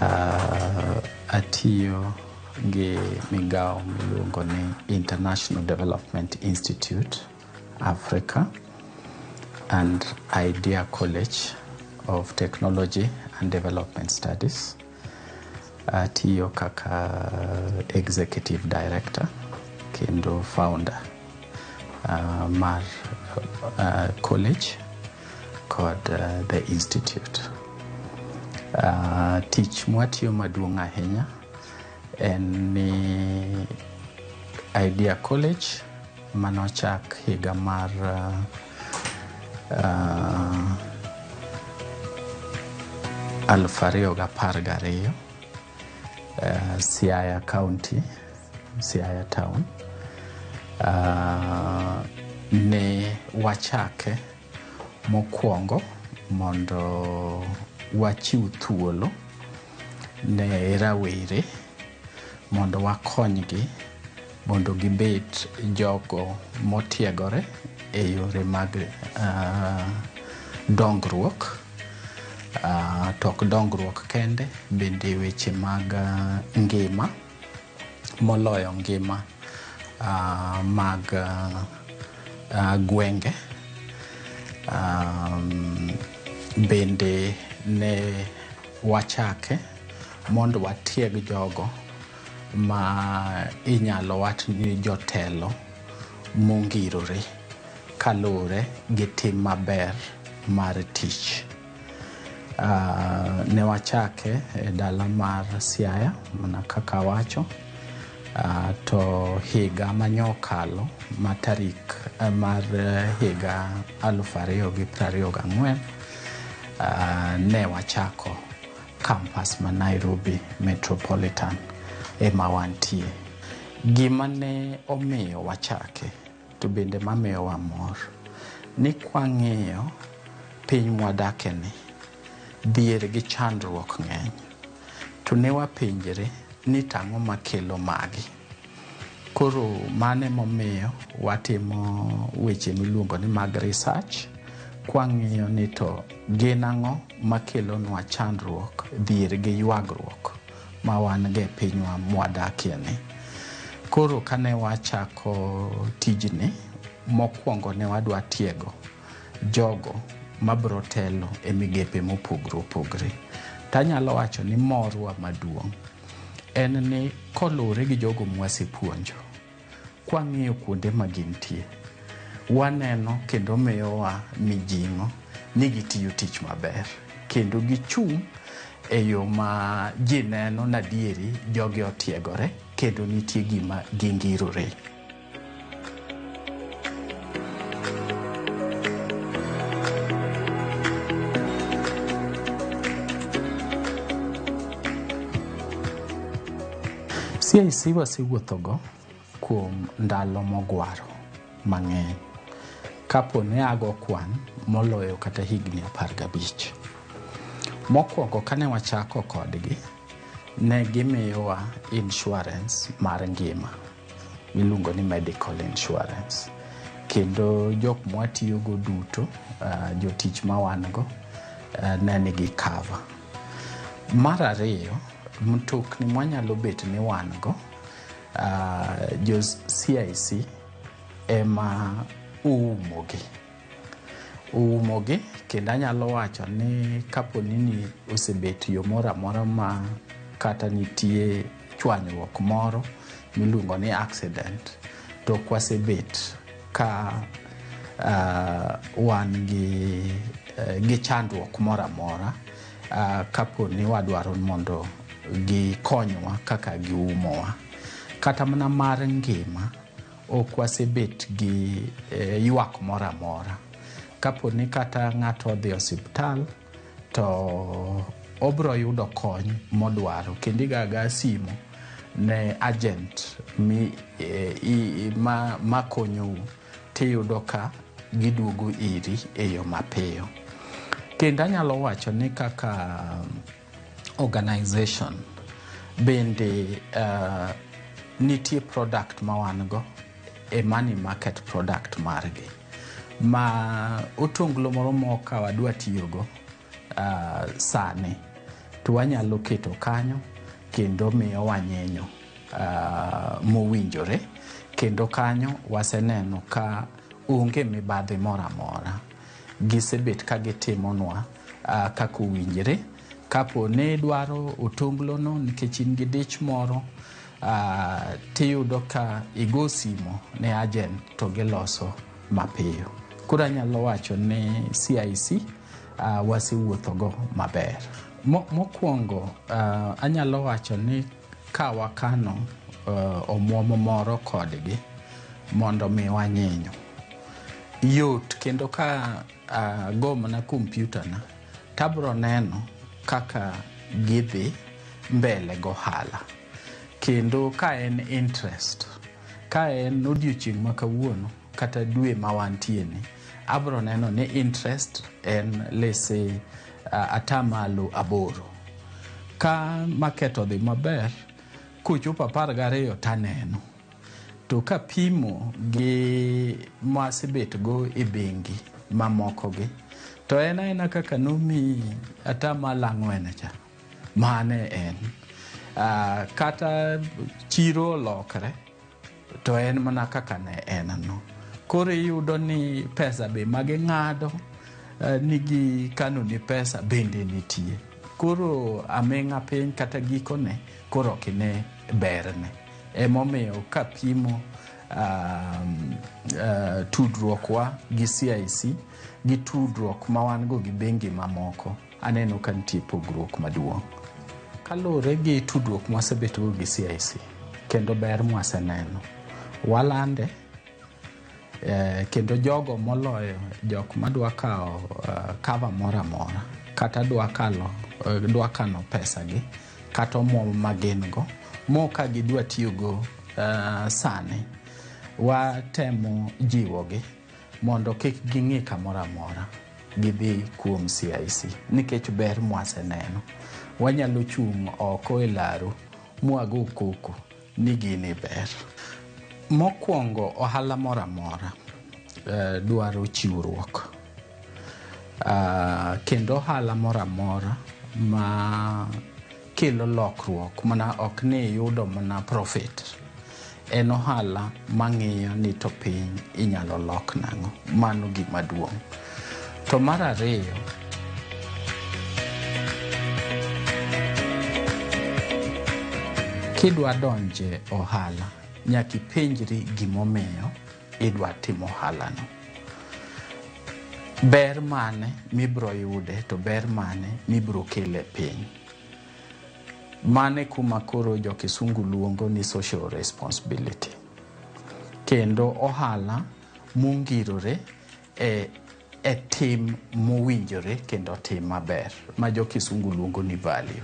Uh, atiyo gi migawo miluongo ni International Development Institute Africa and Idea College of Technology and Development Studies. Atiyo kaka executive director kendo founder uh, mar uh, college kod uh, the institute uh, tich mwatiyo maduong' ahinya en ni idea college manochak higa mar uh, uh, aluf ariyo gapar gariyo uh, Siaya County, Siaya Town. Uh, ne wachake mokwongo mondo wachiw thuolo ne rawere mondo wakonygi mondo gibed jogo motiegore e yore mag dongruok to ok dongruok kende bende weche mag ngima moloyo ngima mag gwenge bende ne wachake mondo watieg jogo ma inyalo wach ni jotelo mongirore kaluwore gi tim maber mar tich. Uh, ne wachake e dala mar Siaya mana kaka wacho uh, to higa manyokalo ma tarik uh, mar higa aluf ariyo gi prariyo gang'wen uh, ne wachako Kampas ma Nairobi Metropolitan ema wantie. Gima ne omiyo wachake to bende mamiyowa mor ni kwang'iyo piny mwadakeni, dhier gi chandruok ng'eny. To ne wapenjre ni tang'o makelo magi? Koro mano emomiyo watimo weche miluongo ni mag research kwang'iyo ni to gin ang'o makelonwa chandruok dhier gi ywagruok ma wan go e pinywa mwadakie ni. Koro kane wachako tijni, mokwongo ne wadwa tiego jogo mabro telo e migepe mopogre opogre. Tanyalo wacho ni morwa maduong' en ni koluwore gi jogo mwasepuonjo kwang'iyo kuonde ma gintie waneno kendo miyowa mijing'o ni gitiyo tich maber kendo gichung' e yo ma ji neno nadieri jogi otiegore kendo nitie gima gingirore. CIC wasewuothogo kuom ndalo mogwaro mang'eny kapo ne ago kwan moloyo kata higni apar gabich. Mokwongo kane wachako kodgi, ne gimiyowa insurance mar ngima. miluongo ni medical insurance kendo jok mwatiyogo duto uh, jotich ma wan go uh, ne nigi cover mar ariyo mtokni mwanyalo bet ni wan go uh, jo cic ema oumogi oumogi kendo anyalo wacho ni kapo ni ni osebet yo moro amora ma kata nitie chwanyruok moro miluongo ni accident to kwasebet ka uh, wan gi, uh, gi chandruok moro amora uh, kapo ni wadwaro mondo gikonywa kaka giumowa kata mana mar ngima ok wasebet gi eh, ywak moro amora kapo ni kata ng'ato odhi e osiptal to obro yudo kony modwaro kendo igaga simu ne agent mi, e, i, ma, ma konyou tiyudo ka giduogo iri e yo mapiyo kendo anyalo wacho ni kaka organization bende uh, nitie product ma wan go e money market product margi ma otonglo moro mok ka wadwa tiyogo uh, sani to wanyalo keto kanyo kendo miyo wanyenyo uh, mowinjore kendo kanyo waseneno ka onge mibadhi moro amora gisebet ka gitimonwa uh, kaka owinjore kapo ne idwaro otonglono nikech in gi dich moro Uh, tiyudo ka igo simo ne agent to giloso mapiyo koro anyalo wacho ni cic uh, wasewuothogo maber Mo, mokwongo uh, anyalo wacho ni ka wakano uh, omwomo moro kodgi mondo mi wanyinyo yot kendo ka uh, go mana kompyutana Tabro neno kaka gidhi mbele gohala kendo ka en interest ka en odiochieng' ma kawuono kata dwe ma wantieni abro neno ni interest en lese uh, atamalo aboro ka maket odhi maber kochopo apar gariyo taneno To kapimo gi ma asebetgo e bengi mamokogi, to en aena kaka nomi atamalo ang'wen cha, mane en. Ah, kata chiro olokre, to en mana kaka ne en no. Koro iyudo ni pesa be ma ging'ado eh, ni gikano ni pesa bende nitie. Koro aming'a piny kata gikone koro ok ine berne. Emomiyo kapimo um, uh, tudruokwa gi CIC gi tudruok ma wan go gi bengi mamoko, aneno ka nitie pogruok maduong'. Kaluwore gi tudruok mwasebetgo gi CIC kendo ber mwaseneno, walande eh, kendo jogo moloyo jok madwa kawo uh, cover moro amora kata dwa kalo eh, dwa kano pesa gi kata omwom ma gin go mo ka gidwa tiyogo uh, sani watemo jiwogi mondo kik ging'i kamoro amora gidhi kuom CIC nikech ber mwaseneno. Wanyalo chung' oko e laru mwago koko ni gini ber. Mokwongo ohala moro amora eh, dwaro chiwruok. Ah, kendo ohala moro amora ma kelo lokruok mana ok ni iyudo mana profit en ohala mang'iyo ni to piny inyalo lok nang'o mano gima duong' To mar ariyo, kidwa donje ohala, nyaka ipenjri gimomiyo idwa timo ohalano. Ber mane mibro yude to ber mane mibro kele piny. Mane kuma koro jo Kisungu luongo ni social responsibility. Kendo ohala mongirore e, e tim mowinjore kendo tim maber ma jo kisungu luongo ni value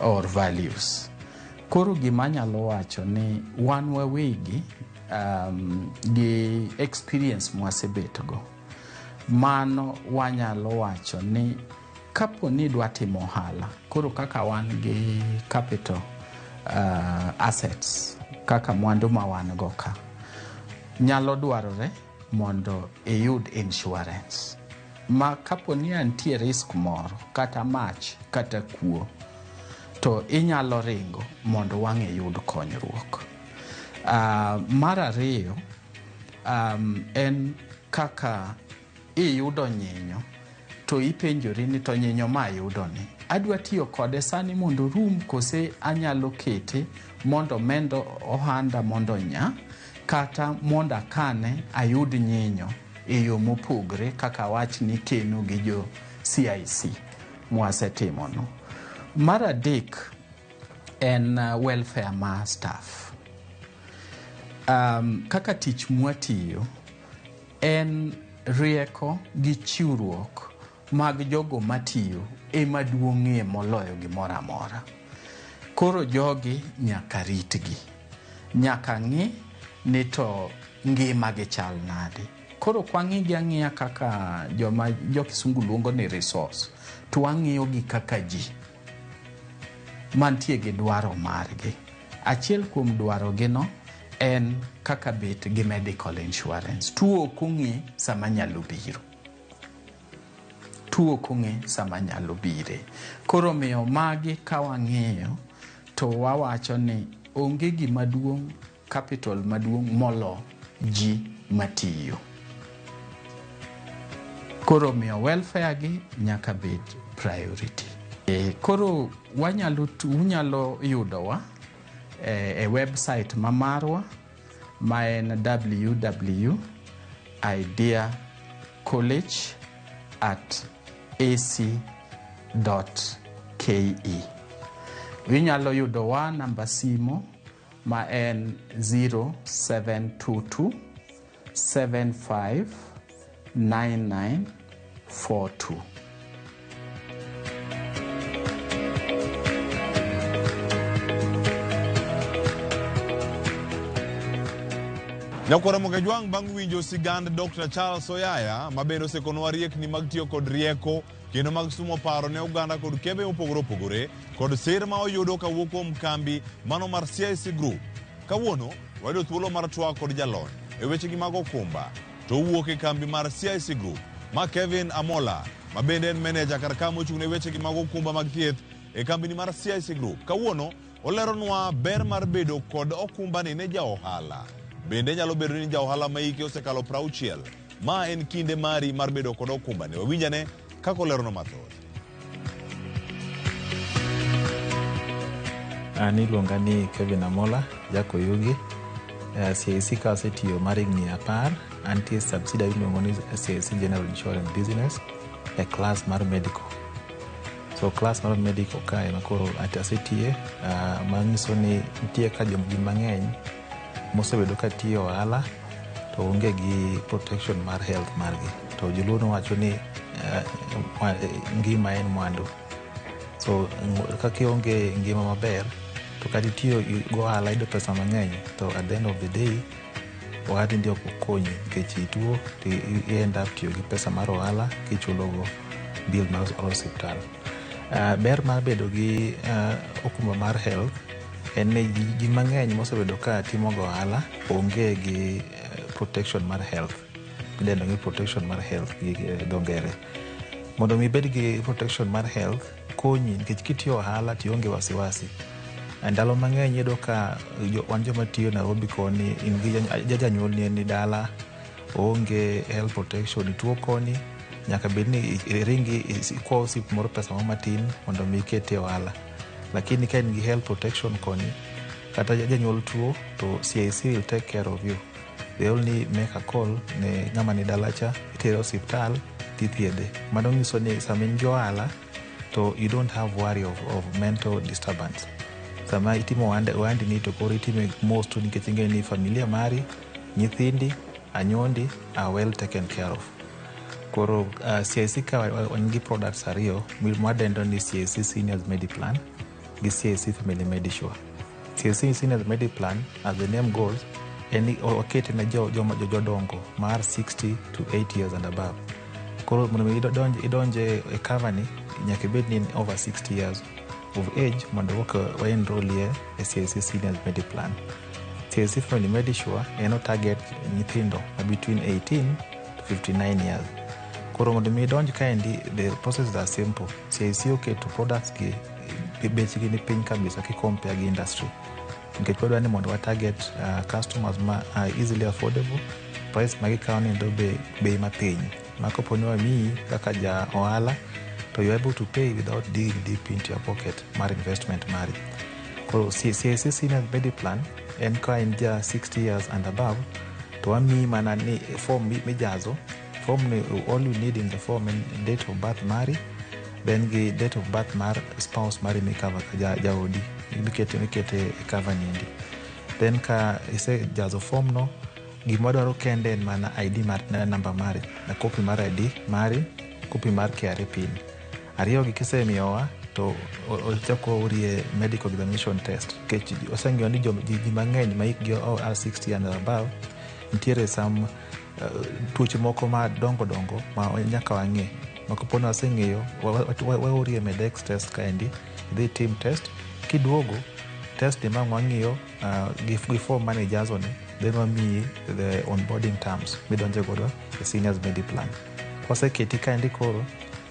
or values koro gima anyalo wacho ni wan wawegi um, gi experience mwasebetgo mano wanyalo wacho ni kapo ni idwa timo ohala koro kaka wan gi capital uh, assets kaka mwandu ma wan go ka nyalo dwarore mondo iyud insurance ma kapo ni antie risk moro kata mach kata kuo to inyalo ringo mondo wang' iyud konyruok. Uh, mar ariyo um, en kaka iyudo nyinyo to ipenjori ni to nyinyo ma ayudoni adwa tiyo kode sani mondo rum kose anyalo kete mondo mendo ohanda mondo nya kata mondo akane ayud nyinyo e yo mopogre kaka awach ni keno gi jo CIC mwasetimono. Mar adek en uh, welfare ma staff. Um, kaka tich mwatiyo en rieko gi chiwruok mag jogo matiyo ema duong'ie moloyo gimoro amora. Koro jogi nyaka ritgi, nyaka ng'i ni to ngimagi chal nade. Koro ok wang'igi ang'iya kaka joma jo kisungu luongo ni resource, to wang'iyogi kaka ji mantie gi dwaro margi. Achiel kuom dwarogino en kaka bet gi medical insurance. Tuo ok ong'e sama nyalo biro. tuo kong'e sama nyalo bire. Koro omiyo magi ka wang'iyo to wawacho ni onge gima duong' capital maduong' molo ji matiyo. Koro omiyo welfare gi nyaka bed priority. E, koro wanyalo unyalo yudowa e, e website ma marwa ma en ww idea college at ac ke inyalo yudowa namba simo ma en 0722 75 9942. Nyakwara Mogajwang' bang' winjo sigand Dr. Charles Oyaya ma bende osekonwa riekni mag tiyo kod rieko kendo mag sumo paro ne oganda kod kembe mopogore opogore kod sir ma oyudo kawuok kuom kambi mano mar CIC Group. Kawuono wayudo thuolo mar twak kod jalony e wechegi mag okumba to owuok e kambi mar CIC Group ma Kevin Amola ma bende en meneja kar ka mochung' ne wechegi mag okumba mag thieth e kambini mar CIC Group. Kawuono oleronwa ber mar bedo kod okumbani ne ja ohala. Bende nyalo bedo ni ja ohala ma hike osekalo 60. Ma en kinde mari mar bedo kod okumbani. Wawinjane Kaka olerono mathoth. An iluonga ni Kevin Amola, Jakoyugi. Eh, CIC ka asetiyo mar higni apar, antie subsidiary miluongo ni CIC General Insurance Business e class mar medical. So class mar medical ka ema koro at- asetiye, ah, manyiso ni nitie ka jomgi mang'eny mosebedo ka tiyo ohala to onge gi protection mar health margi to joluo nowacho ni eh, mwa- eh, ngima en mwandu so ng- ka kionge ngima maber to kata itiyo i- gohala yudo pesa mang'eny to at the end of the day ohandi ndi ok okonyi nikech ituo to i- i- i end up tiyo gi pesa mar ohala kichulogo bill mar osiptal Ah, ber mar bedo gi ah, okumba mar health en ni ji, ji mang'eny mosebedo ka timo go ohala onge gi eh, protection mar health idendo ni protection mar health gi eh, dho ngere mondo mi ibed gi protection mar health konyi nikech kitiyo ohala tionge wasiwasi Eh, ndalo mang'eny iyudo ka jo- wan joma tiyo nairobi koni in gi jany- ja- janyuol ni ni dala oonge health protection ituo koni nyaka bed ni i- iringi is- ikwa osip moro pesa moro matin mondo mi ikete ohala lakini ka in gi health protection koni kata janyuol tuo to CIC will take care of you they only make a call ne ng'ama ni dalacha itere osiptal tithiedhe mano nyiso ni sama in gi ohala to you don't have worry of, of mental disturbance sama itimo ohande- ohandini to koro itime mos tu nikech ing'eyo ni familia mari nyithindi anyondi are well taken care of Koro uh, CIC ka wan gi products ariyo mwadendo ni CIC Seniors Mediplan gi CIC Family Medisure. CIC Seniors Mediplan as the name goes en okete ne joma jo, jo, jodongo mar 60 to 80 years and above. Koro mondo mi idonje idonj e cover ni nyaka ibed ni over 60 years of age mondo waka waenrolie e CIC Seniors Mediplan. Sir Stephen Limedishwa en o target nyithindo ma between 18 to 59 years. Koro mondo mi idonj kaendi the processes are simple. CIC oketo products gi gi bechgi ni piny kabisa ki compare gi industry. Nikech wadwa ni mondo wa target uh, customers ma are easily affordable, price ma gikawo ni do be bei ma piny. ma kopo ni wamiyi kaka ja ohala to you are able to pay without digging deep into your pocket mar investment mari koro CIC senior mediplan en ka in ja 60 years and above to wamiyi mana ni form mi- mijazo form ni all you need in the form en date of birth mari then gi date of birth mar spouse mari mikava ka ja- jaodi mikete mikete e cover niendi then ka isejazo form no Gima wadwaro kende en mana ID mar namba mari na kopi mar ID mari, kopi mar KRA pin. Ariyogi kisemiyowa to ochako orie medical examination test nikech oseng'eyo ni ji mang'eny ma hikgi o a 60 and above nitiere sam uh, tuoche moko ma dongo dongo ma nyaka wang'e ma kaponi waseng'eyo waorie medex test kaendi idhi tim test kiduogo test emang' wang'iyo Uh, gif- before money jazo ni then wamiyi the onboarding terms midonje godo e seniors medi plan kwaseketi kaendi koro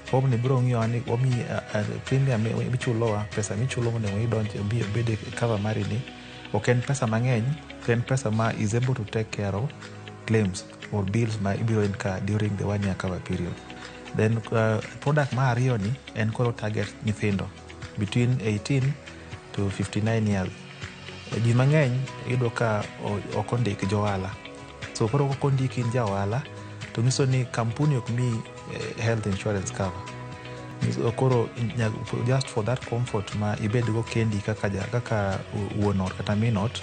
form ni biro ng'iyo ni wamiyi uh, uh, premium mi- michulowa pesa michulo mondo mi idonje bi- obed e cover mari ni ok en pesa mang'eny to en pesa ma is able to take care of claims or bills ma ibiro incur during the one year cover period then uh, product ma ariyo ni en koro target nyithindo between 18 to 59 years Ji mang'eny iyudo ka ok ondik johala, so koro kok ondiki in ja ohala to nyiso ni kampuni ok mi health insurance cover. Koro just for that comfort ma ibedgo kendi kaka ja kaka wuon ot kata min ot,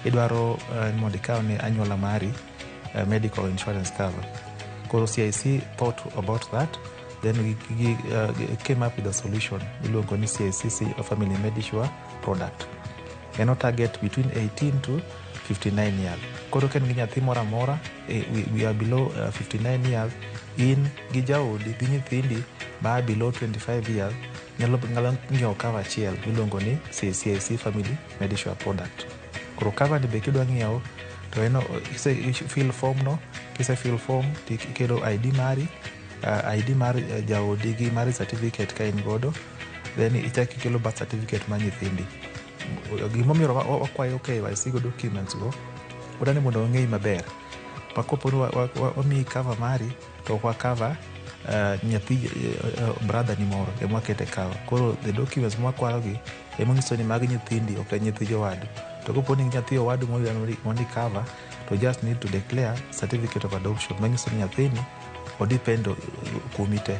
idwaro ni mondo ikaw ne anyuola mari. uh, medical insurance cover. Koro CIC thought about that then we gi- uh, gi- came up with a solution iluongo ni CICC uh, Family Medisure product. En o target between 18 to 59 years. Koro ka in gi nyathi moro amora eh, we, we are below uh, 59 years in gi jaodi gi nyithindi ma are below 25 years nyalo nyalo ng'iewo cover achiel miluongo ni CIC Family Medisure product. koro cover ni be kidwa ng'iewo to en o- kise fill form no kise fill form to ikelo id mari uh, id mar uh, jaodi gi mar certificate ka in godo then ichak ikelo birth certificate mar nyithindi gimomiyo wa- wa- wakwayo KYC go documents go wadwani mondo wang'eyi maber ma koponi wa- wa- wa- wamiyi cover mari to kwa cover uh, nyathi uh, brother ni moro ema wakete cover koro the documents mwakwarogi ema nyiso ni mag nyithindi ok en nyithi jowadu to kopo ni nyathi owadu moyudo mondi- mondi cover to just need to declare certificate of adoption manyiso ni nyathini odepend kuomi te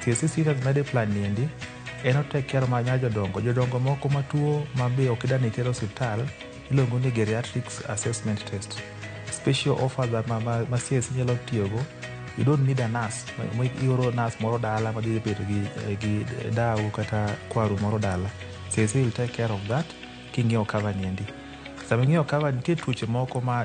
Thieth sisita gi Mediplan niendi en otek care ma nya jodongo. Jodongo moko ma tuo ma be ok idani iter osiptal iluongo ni geriatrics assessment test. Special offer that ma, ma, ma CIC nyalo tiyogo you don't need a nurse ma ioro nurse moro dala ma dhi bedo gi, gi dawu kata kwaru moro dala. CIC will take care of that king'iewo cover niendi. Sama ing'iewo cover nitie tuoche moko ma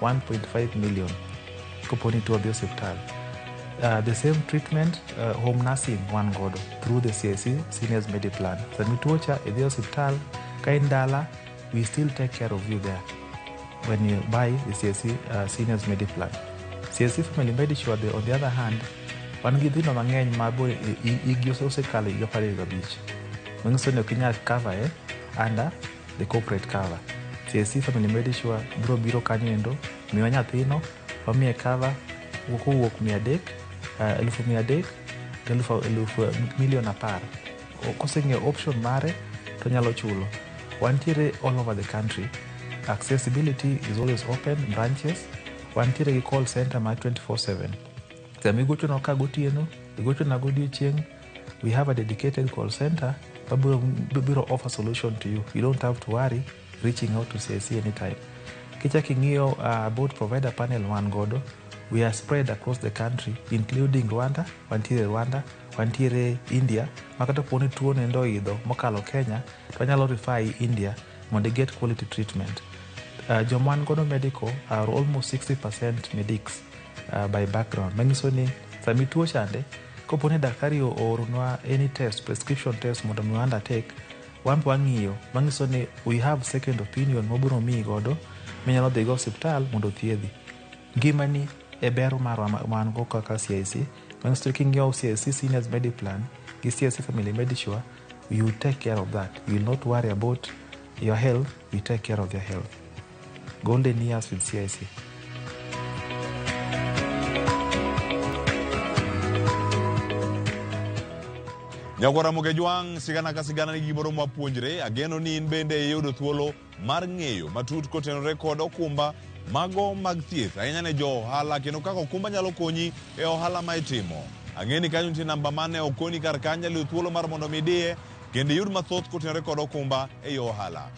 1.5 million kopo ni tuo dhi osiptal Uh, the same treatment uh, home nursing wan godo through the CSC seniors medi plan sami tuo cha idhi osiptal ka in dala we still take care of you there when you buy the CSC uh, seniors medi plan CSC family medisure the, on the other hand wan gi dhino mang'eny ma bo igi osekalo higa apar gi abich manyiso ni ok inyal cover e under the corporate cover CSC family medisure biro biro kanyo endo miwa nyathino wamiye cover wuok owuok mia adek uh, elufu mia adek to elufu elufu milion apar O- koseng'eyo option mare to nyalo chulo wantiere all over the country accessibility is always open branches wantiere gi call center mar 24/7 sama igochonwa ka gotieno igochona godiechieng' We have a dedicated call center that will, will offer solution to you. You don't have to worry reaching out to CIC anytime. Kicha king'iyo uh, about provider panel wan godo, we are spread across the country including Rwanda, wantiere Rwanda, wantiere India, makata kuone tuo nendo idho mokalo Kenya, to wanyalo refer i India mondo get quality treatment. Uh, joma wan godo medical are almost 60% medics uh, by background. Manyiso ni sami tuo chande Kopo ni daktari ooronwa any test, prescription test mondo mi undertake, wan be wang'iyo manyiso ni we have second opinion mobiro miyi godo minyalo dhigo osiptal mondo othiedhi. Ngimani e ber marwa ma wan go kaka CIC, manyiso ni king'iewo CIC Seniors Medi Plan gi CIC Family Medisure, you take care of that. You will not worry about your health, we take care of your health. Golden years with CIC. Nyagwa Ramoge Jwang', sigana ka sigana nigi gimoro mwapuonjre. Ageno ni in bende iyudo thuolo mar ng'eyo matut kotenore kod okumba mago mag thieth ahinya ne jo ohala kendo kaka okumba nyalo konyi e ohala ma itimo. Ang'e ni kanyo nitie namba mane okoni kar kanyo nyalo thuolo mar mondo mi idiye kendo iyud mathoth kotenore kod okumba e yo ohala.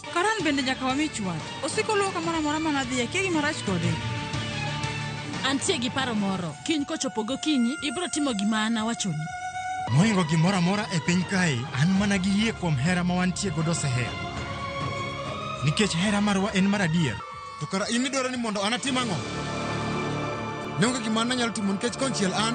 Karan bende nyaka wami chwat. Osiko luwo kamoro amora ma nadhi, akia gima rach kode. Antie gi paro moro. Kiny kochopo gokinyi, ibiro timo gima an awachoni. Moingo gimoro amora e piny kae, an mana gi yie kuom hera ma wantie godo seher. Nikech hera marwa en mar adier. To kara in idwaro ni mondo an atim ang'o? Ne onge gima an nanyalo timo nikech konchiel an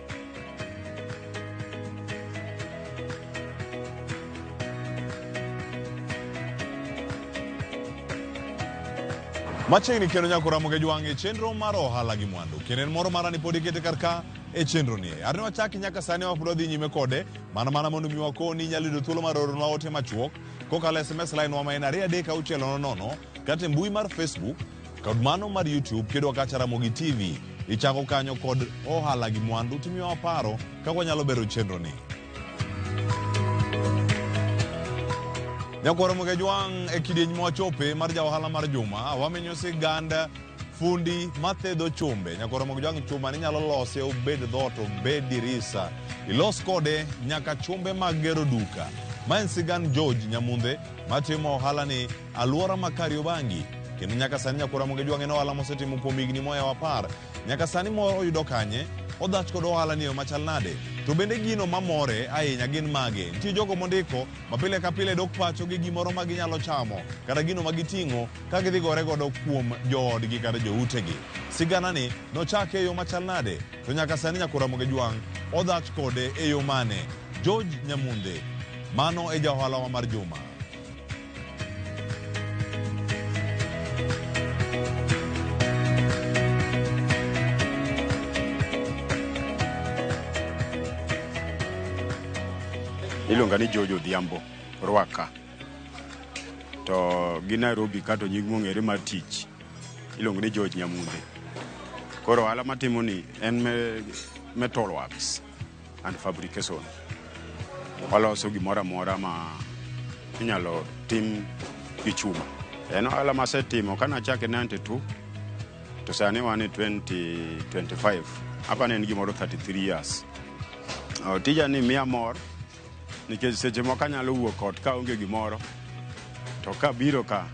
Machiegni kendo nyaka oramoge jwang' e chenro mar ohala gi mwandu. Kendo en moro marani pod ikete kar ka e chenro ni. Arne wachaki nyaka sani wapod wadhi nyime kode mana mana mondo mi wakoni inyalo yudo thuolo mar oronwa ote machuok kokalo SMS line wa ma en ariyo adek auchiel nono nono kata e mbui mar Facebook Kod mano mar YouTube kidwa kacha Ramogi TV, ichako kanyo kod ohala gi mwandu timiwa paro kaka wanyalo bero chenro ni. Nyakwaro Mugejwang' e kidieny mwachope mar ja ohala mar juma wamenyo sigand fundi mathedho chumbe nyakwaro Mugejwang' chuma ni nyalo lose obed dhot obed dirisa ilos kode nyaka chumbe mag gero duka ma en sigand George Nyamundhe matimo ohala ni Alwora ma Kariobangi kendo nyaka sani Nyakwa Ramogi Ojwang' en ohala mosetimo kuom higni moyawo apar. Nyaka sani mor oyudo kanye? Odhach kod ohala ni machal nade? To bende gino mamore ahinya gin mage? Nitie jogo mondiko ma pile ka pile dok pacho gi gimoro ma ginyalo chamo kata gino ma giting'o ka gidhi gore godo kuom joodgi kata joutegi. Siganani nochake e yo machal nade? To nyaka sani Nyakwa Ramogi Ojwang' odhach kode e yo mane? George Nyamunde, mano e ja ohalawa mar juma. iluonga ni George Odhiambo Rwaka to gi Nairobi ka to nying mong'ere mar tich iluongo ni George Nyamunde. Koro ohala matimo ni en me metal works. and fabrication. Waloso gimoro amora ma inyalo tim gi chuma. En ohala masetimo kane achake 92 to sani wan e 2025 hapa ne en gimoro 33 years. Oh, tija ni miya mor nikech seche moko anyalo wuok ot ka onge gimoro to kabiro ka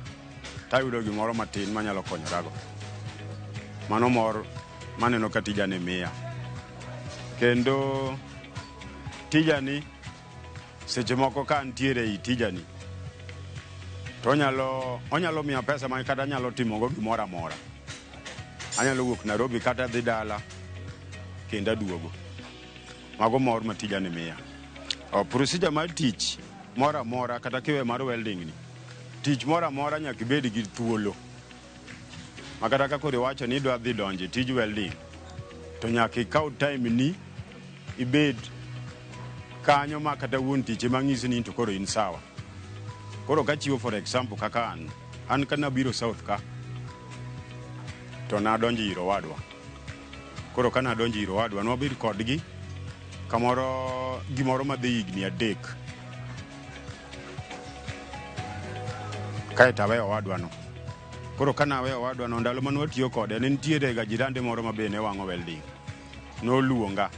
tayudo gimoro matin manyalo konyorago. Mano mor maneno ka tijani miya kendo tijani seche moko ka antiere i tijani to onyalo onyalo miya pesa ma kata anyalo timogo gimoro amora anyalo wuok nairobi kata dhi dala kendo aduogo mago mor ma tijani miya O, procedure mar tich moro amora kata kiwe mar welding ni tich moro amora nyaka ibed gi thuolo ma kata ka koro iwacho ni idwa dhi donjo e tij welding to nyaka ikaw time ni ibed kanyo ma kata wuon tich ema ng'isi ni to koro in sawa koro kachiwo for example kaka an an ka nabiro south ka to nadonjo ir owadwa koro ka nadonjo ir owadwa nwabed kodgi kamoro gimoro madhi higni adek kae to aweyo owadwano. Koro ka naweyo owadwano, ndalo mane watiyo kode, ne nitiere ga jirande moro ma be ne wang'o welding. Noluonga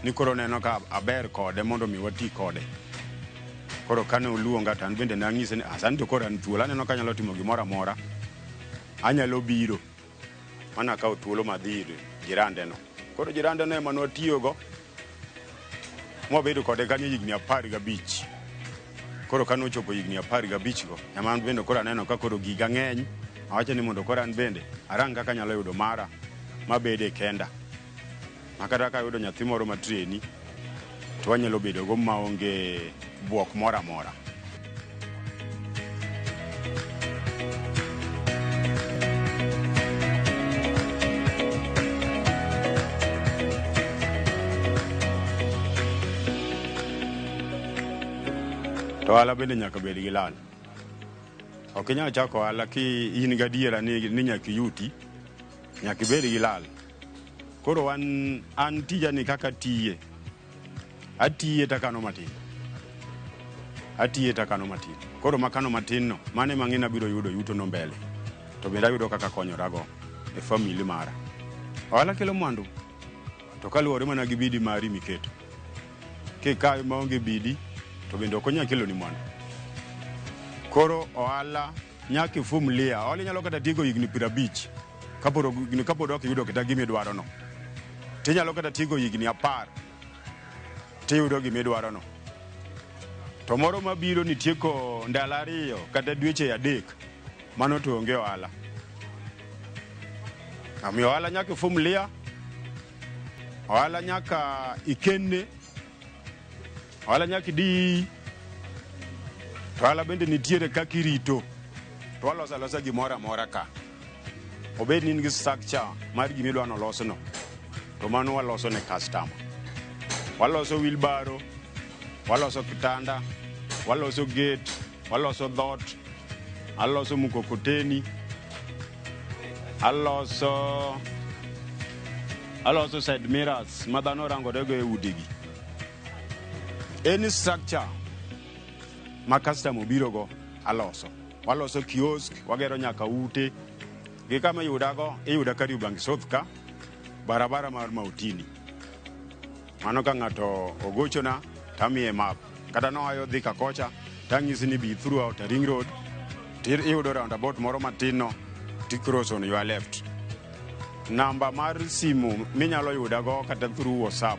ni koro neno ka aber kode mondo mi wati kode. Koro kane oluonga to an bende nanyise ni ah, sani to koro an thuolo, aneno ka anyalo timo gimoro amora, anyalo biro. Mana kawo thuolo ma dhi ir jirandeno. Koro jirandeno ema nwatiyogo mwabedo kode kanyo higni apar gabich. Koro ka nochopo higni apar gabichgo, ema an bende koro aneno ka koro giga ng'eny. Awacho ni mondo koro an bende arang kaka anyalo yudo mara mabede kenda. Makata ka ayudo nyathi moro ma treni to wanyalo bedogo maonge bwok moro amora. To ohala bende nyaka bed gi lal. Ok inyal chako ohala ki in gadiera ni nyaka iyuti, nyaka ibed gi lal. Koro an, an tija ni kaka tiye, atiye takano matin, atiye takano matin. Koro makano matin no, mane mang'e nabiro yudo yuto no mbele, to bende ayudo kaka konyorago e family mara. Ohala kelo mwandu, to kaluwore mana gi bidi mari miketo. Kikayo maonge bidi, to bende ok onyal keloni mwandu. Koro ohala Nyaka ifum lia. Hola inyalo kata tigo higni piero abich kapod ok- kapod ok iyudo kata gima idwarono. To inyalo kata tigo higni apar tiyudo gima idwarono. To moro mabiro nitieko ndalo ariyo kata dweche adek mano to onge ohala. Omiyo ohala nyaka ifum lia. Ohala nyaka ikenne Ohala nyaka idi. To ohala bende nitiere kaka irito. To waloso alosa gimoro amora ka. Obed ni in gi structure mar gima idwa ni olosno, to mano waloso ne customer. Waloso wheelbarrow, waloso kitanda, waloso gate, waloso dhot, aloso mkokoteni, aloso aloso side mirrors ma dhano rango rego e udigi. Any structure ma customer obirogo aloso. Waloso kiosk, wagero nyaka ute. Gi kama iyudago, iyuda Kariobangi South ka, barabara mar Mautini. Mano ka ng'ato ogochona tamiye map. Kata noayo Thika kocha, tang'isi ni bi through Outer Ring Road, tir iyudo roundabout moro matin no, ti cross on your left. Namba mar simu minyalo yudago kata through WhatsApp